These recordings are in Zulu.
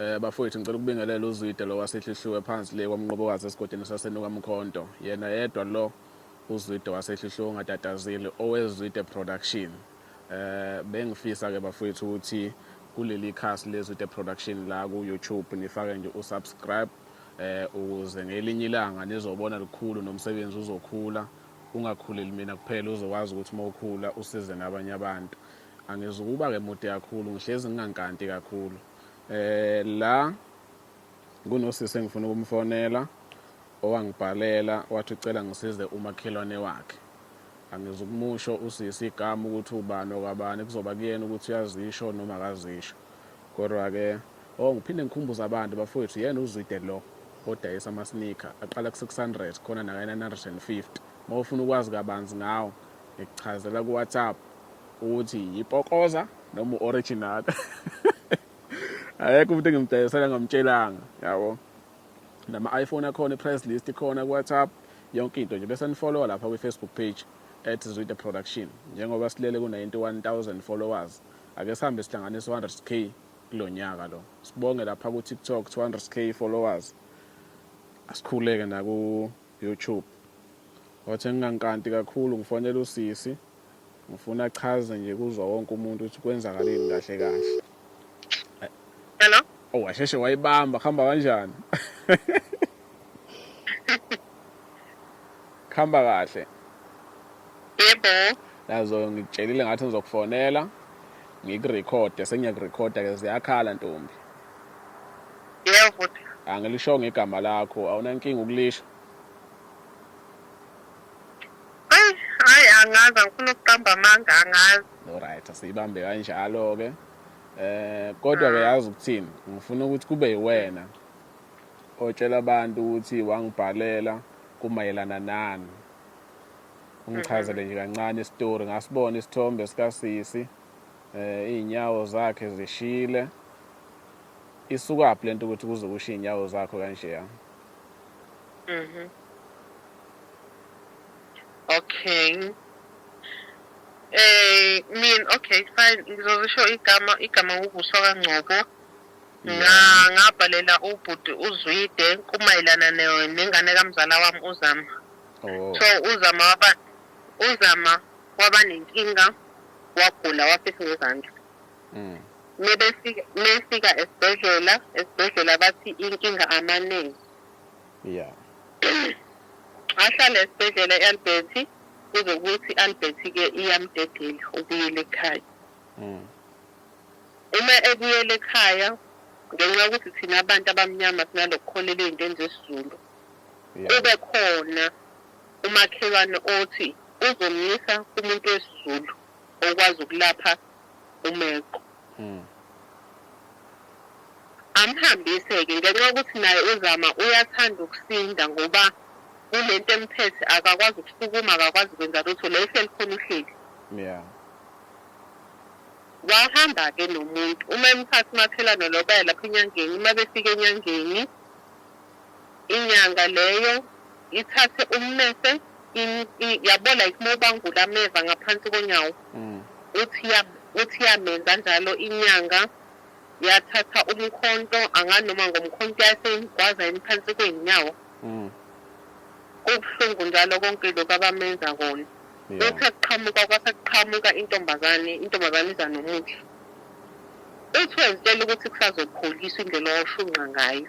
Eh bafowethu ngicela ukubingelela uZwide lo wasehlihliwe phansi le kwamnqobokazi esigodini sasenuka mkhonto yena yedwa lo uZwide wasehlihliwe ongatatazile owezwide production eh bengifisa ke bafowethu ukuthi kuleli khasi lezwide production la ku YouTube nifake nje usubscribe eh ukuze ngelinye ilanga nizobona likhulu nomsebenzi uzokhula ungakhuleli mina kuphela uzokwazi ukuthi uma ukhula usize nabanye abantu Angizukuba-ke mude kakhulu, ngihlezi ngingankanti kakhulu. Eh la kunosisi engifuna ukumfonela owangibhalela wathi ucela ngisize umakhelwane wakhe. Angizukumusho usisi igama ukuthi ubani okwabani kuzoba kuyena ukuthi uyazisho noma akazisho. Kodwa-ke oh ngiphinde ngikhumbuza abantu bafowethu yena uzwide lo odayisa ama-sneaker aqala ku-600 khona nakayena 150 uma ufuna ukwazi kabanzi ngawo Ngikuchazela kuWhatsApp ukuthi yipokoza noma u-original akekho umuntu engimdayisela ngamtshelanga yabo nama-iphone akhona i-price list ikhona kuwhatsapp yonke into nje bese nifolowa lapha kwi-facebook page at zwide production njengoba silele ku-91 000 followers ake sihambe sihlanganise 100 k kulo nyaka lo sibonge lapha ku-tiktok 200 k followers asikhuleke naku YouTube wathe ngingankanti kakhulu ngifonele usisi ngifuna achaze nje kuzwa wonke umuntu ukuthi kwenzakaleni kahle kahle Hello oh washeshe wayibamba khamba kanjani khamba kahle yebo yazo ngikutshelile ngathi ngizokufonela ngikurekhode sengiyakurekhoda ke ziyakhala ntombi Yebo bhuti. Angilishongo igama lakho, awunankinga ukulisho? Eyi, hhayi angazi angifuni ukuqamba amanga angazi. Alright asiyibambe kanjalo-ke. Eh kodwa ke yazi ukuthini ngifuna ukuthi kube yiwena otshela abantu ukuthi wangibhalela kumayelana nani. Ungichazele nje kancane istory ngasibona isithombe sikasisi. eh izinyawo zakhe zishile isukaphi lento ukuthi kuze kushe izinyawo zakho kanje ya mhm okay eh min okay fine ngizozisho igama igama ukuvuswa kangcobo ngabhalela ubhuti uzwide kumayelana nengane kamzala wami uzama oh. so uzama waba UZama waba nenkinga wagula wafisa ngezandla. Mebefika mefika esibhedlela esibhedlela bathi inkinga amaningi. Yeah. Ahlale esibhedlela eAlbert kuze kuthi Albert ke iyamdedela ubuyele ekhaya. Uma ebuyela ekhaya ngenxa yokuthi thina abantu abamnyama sinalokukholelwa ezintweni zesiZulu. Kube khona Umakhelwane othi uzomyisa kumuntu wesiZulu okwazi ukulapha uMeqo. Amhambise-ke ngenxa yokuthi naye uZama uyathanda ukusinda ngoba kule nto emphethe akakwazi ukusukuma, akakwazi kwenza lutho, la ehleli khona uhleli. Wahamba-ke nomuntu, uma emthatha umakhelwane lo baya lapha enyangeni, uma befika enyangeni. Inyanga leyo ithathe ummese in, i, yabo like uma ubangula ameva ngaphansi konyawo mm. uthi ya uthi yamenza njalo inyanga yathatha umkhonto anganoma ngomkhonto yaseyigwaza imphansi kwey'nyawo mm. kubuhlungu njalo konke lokhu abamenza kona yeah. uthi akuqhamuka kwase kuqhamuka intombazane intombazane iza nomuthi uthi wezitshela ukuthi kusazopholiswa indlela owashunqa ngayo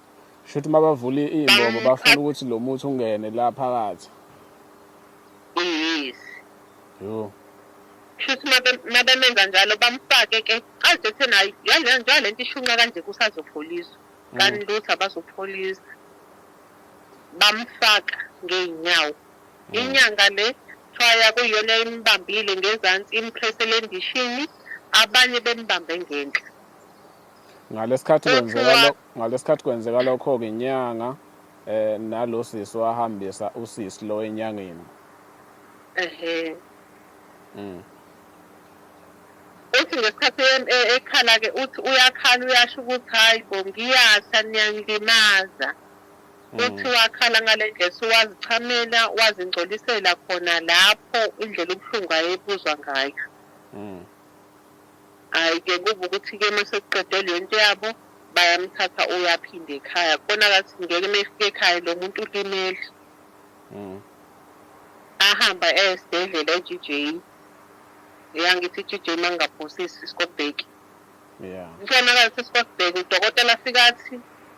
Shuthi mabavula iy'mbobo bafuna ukuthi lo muthi ungene la phakathi. Yes. Yo. Shuthi mabemenza njalo bamfake ke aze ethi nayo yale njengoba le nto ishunqa kanje kusazopholiswa. Mm. Kanti lutho abazopholisa. Bamfaka ngey'nyawo. Mm. Inyanga le kuthiwa yakuyiyona imbambile ngezansi imphresele endishini abanye bembambe ngenhla. Ngalesikhathi kwenzeka ngalesikhathi kwenzeka lokho-ke inyanga eh nalo sisi wahambisa usisi lo enyangeni. Ehhe. Mm. Uthi ngesikhathi em- e- ekhala-ke uthi uyakhala uyasho ukuthi hhayi bo ngiyasha niyangilimaza. Uthi Mm. wakhala ngale ndlela suwazichamela wazingcolisela khona lapho indlela ubuhlungu ayebuzwa ngayo. Mm. Ay ke kuba ukuthi ke masekuqede lento yabo bayamthatha uyaphinda ekhaya kona akathi ngeke mefika ekhaya lomuntu ulimele mm. ahamba esibhedlela eGJ yangithi iGJ mangaphosisi iskobheki yeah mfana akathi iskobheki udokotela afika athi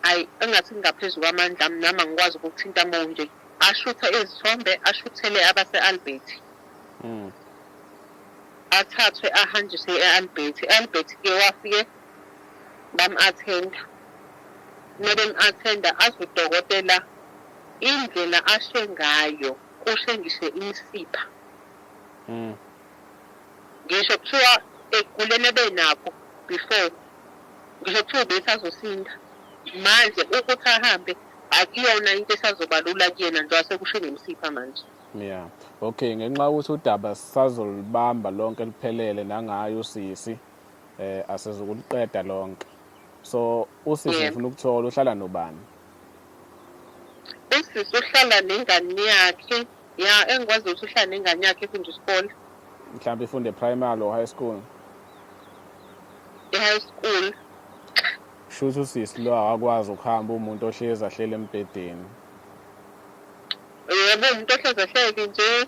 ayi engathi ngingaphezulu kwamandla ami nami angikwazi ukuthinta monje ashuthe izithombe ashuthele abase-albert mm. athathwe ahanjiswe e-albert e-albert ke wafike bam-athenda uma bem-athenda azi udokotela indlela ashe ngayo kushe ngisho imisipha mm. ngisho kuthiwa ekuguleni ebenakho before ngisho kuthiwa ubesazosinda manje ukuthi ahambe akuyona into esazobalula kuyena njengoba sekushe nemisipha manje Yeah. Okay, ngenxa ukuthi udaba sazolibamba lonke liphelele nangayo usisi eh asizukuliqeda lonke. So usisi yeah. ufuna ukuthola uhlala nobani? Usisi uhlala nengane yakhe. Yeah, engikwazi ukuthi uhlala nengane yakhe ifunde isikole. Mhlawumbe ifunde primary or high school. E-high school. Shuthi usisi lo akwazi ukuhamba umuntu ohlezi ahlele embhedeni. Yebo umuntu ohlezi ehleke nje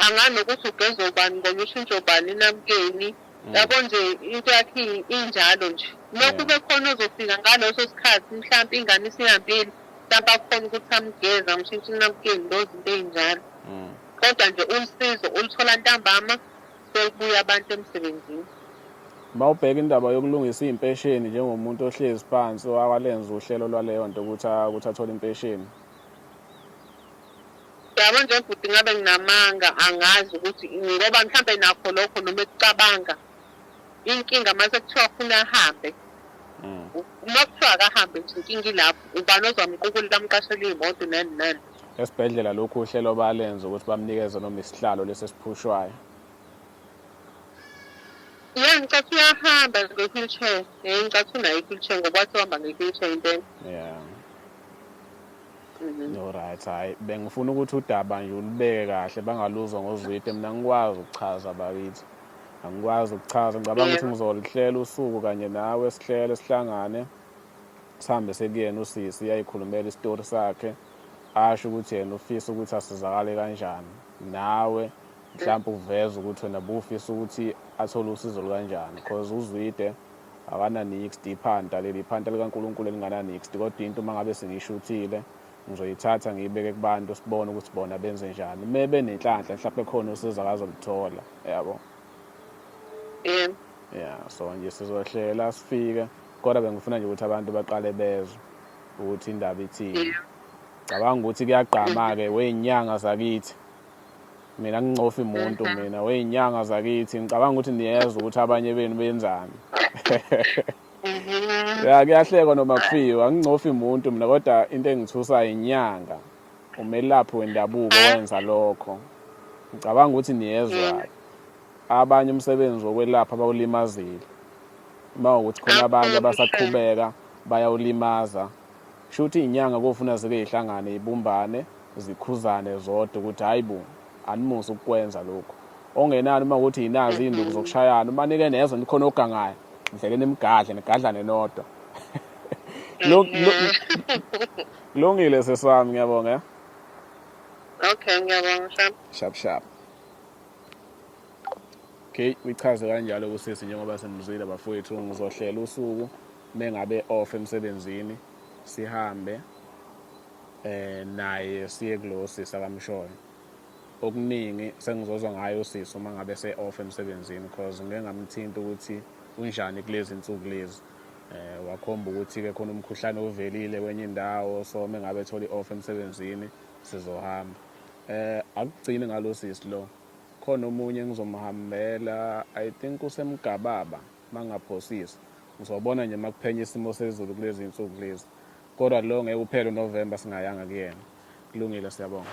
angani nokuthi ugeza ubani ngoba ushintsha ubani namkeni mm. yabo nje into yakhe injalo nje lokhu mm. bekhona ozofika ngaleso sikhathi mhlawumpe ingane isihambile mhlawumpe akhona ukuthi amgeza ngishintshe inamkeni lo zinto ey'njalo mm. kodwa nje usizo ulithola ntambama sekubuya abantu emsebenzini bawubheka indaba yokulungisa iy'mpesheni njengomuntu ohlezi phansi walenza uhlelo lwaleyo nto ukuthi athole impesheni Yabo nje bhuti ngabe nginamanga angazi ukuthi ngoba mhlampe nakho lokho noma ekucabanga inkinga uma sekuthiwa funa ahambe mm. uma kuthiwa akahambe nje inkinga ilapho ubani ozamqukulela amqashela iy'moto nani nani esibhedlela lokhu uhlelo balenze ukuthi bamnikeze noma isihlalo lesi esiphushwayo ya ngicatha uyahamba nge-wheelchair um ngicatha unayo i-wheelchair ngoba wathi uhamba nge-wheelchair impela yeah Mhm. Alright, hayi bengifuna ukuthi udaba nje ulibeke kahle bangaluzwa ngozwide mina ngikwazi ukuchaza bakithi. Angikwazi ukuchaza ngicabanga ukuthi Yebo. ngizolihlela usuku kanye nawe sihlele sihlangane sihambe sekuyena usisi ayikhulumela isitori sakhe asho ukuthi yena ufisa ukuthi asizakale kanjani nawe mhlawumbe uveze ukuthi wena bufisa ukuthi athole usizo lukanjani cause uzwide Akananixd iphanta leli iphanta likaNkulunkulu elingananixd kodwa into uma ngabe sengiyishuthile ngizoyithatha ngiyibeke kubantu sibone ukuthi bona benze njani uma benenhlanhla mhlawumbe khona usizo akazolithola yabo yeah yeah so nje sizohlela sifike kodwa bengifuna nje ukuthi abantu baqale bezwe ukuthi indaba ithini cabanga ukuthi kuyagqama-ke weyinyanga zakithi Mina ngincofi muntu mhm. mina weyinyanga zakithi ngicabanga ukuthi niyeza ukuthi abanye benu benzani. Mhm. Ya kuyahlekwa noma kufiwa ngincofi muntu mina kodwa into engithusa inyanga umelaphi wendabuko mhm. wenza lokho. Ngicabanga ukuthi niyezwa abanye umsebenzi wokwelapha bawulimazile. Uma ukuthi khona abanye abasaqhubeka bayawulimaza Shuthi inyanga kofuna zike ihlangane ibumbane zikhuzane zodwa ukuthi hayibo animusa ukukwenza lokhu. Ongenani uma ukuthi yinazi induku zokushayana uma nike nezwe nikhona ogangayo ngidleke nimgadle nigadlane nodwa. Kulungile sesami ngiyabonga. Eh? Okay ngiyabonga shap. Shap shap. Okay, uyichaze kanjalo kusisi njengoba simzwile bafowethu ngizohlela usuku mengabe off emsebenzini sihambe eh naye siye kulosi sakamshoyo okuningi sengizozwa ngayo usisi uma ngabe se off emsebenzini because ngeke ngamthinta ukuthi unjani kulezi insuku lezi eh wakhomba ukuthi ke khona umkhuhlane ovelile kwenye indawo so mengabe ethola i-off emsebenzini sizohamba eh akugcini ngalosisi lo khona omunye engizomhambela i think usemgababa Mangingaphosisa ngizobona nje makuphenya isimo sezulu kulezi nsuku lezi kodwa lo ngeke uphele uNovember singayanga kuyena. Kulungile, siyabonga.